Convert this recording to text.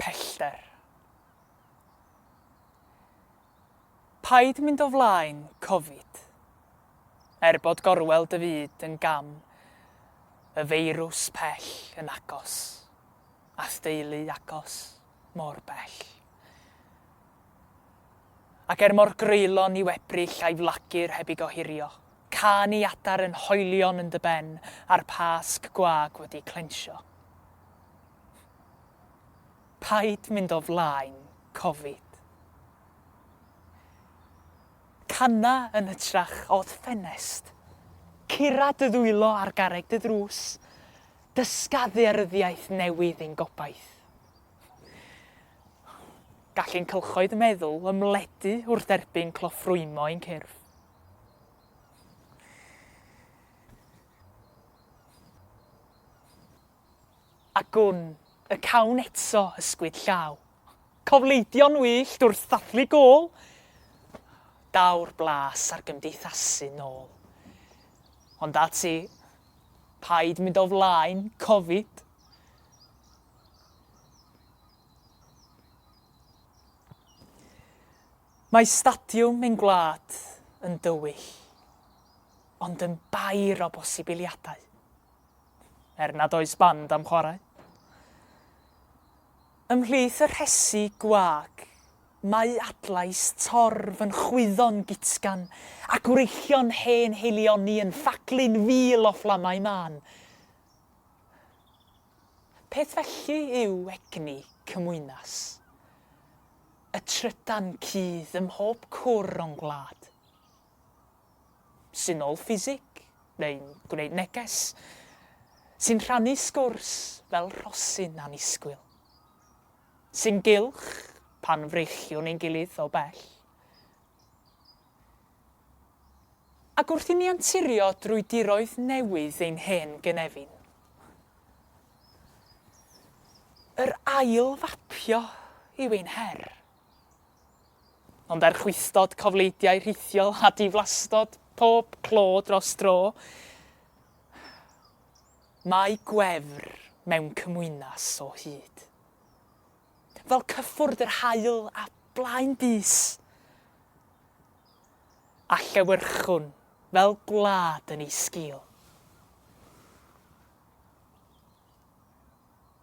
pellter. Paid mynd o flaen Covid. Er bod gorwel dy fyd yn gam, y feirws pell yn agos, a'th deulu agos, mor bell. Ac er mor greulon i'w ebrill a'i flagur heb i gohirio, can i adar yn hoelion yn dy ben a'r pasg gwag wedi clensio. Paid mynd o flaen covid. Cana yn hytrach o'r ffenest. Cura dy ddwylo ar garreg dy ddrws. Dysga ddearyddiaeth newydd i'n gobaith. Gall ein cylchoedd meddwl ymledu wrth erbyn cloffrwymo ein cyrff. A gwn y cawn eto ysgwyd llaw. Cofleidio'n wyllt wrth ddathlu gôl. Daw'r blas ar gymdeithasu nôl. Ond ati, paid mynd o flaen Covid. Mae stadiwm ein gwlad yn dywyll, ond yn bair o bosibiliadau. er nad oes band am chwarae. Ymhlith y rhesi gwag, mae adlais torf yn chwyddo'n gutgan, a gwreiddion hen heilioni yn ffaglu'n fil o fflamau mân. Peth felly yw egni Cymwynas. Y trydan cudd ym mhob cwr o'n gwlad. syml ffisig neu'n gwneud neges, sy'n rhannu sgwrs fel rhosyn annisgwyl, sy'n gylch pan frechiwn ein gilydd o bell. Ac wrth i ni anturio drwy diroedd newydd ein hen gynefin, yr ail fapio yw ein her. Ond er chwystod cofleidiau rhithiol a diflastod pob clo dros dro, mae gwefr mewn cymwynas o hyd. Fel cyffwrdd yr haul a blaen bys, a llewyrchwn fel gwlad yn ei sgil.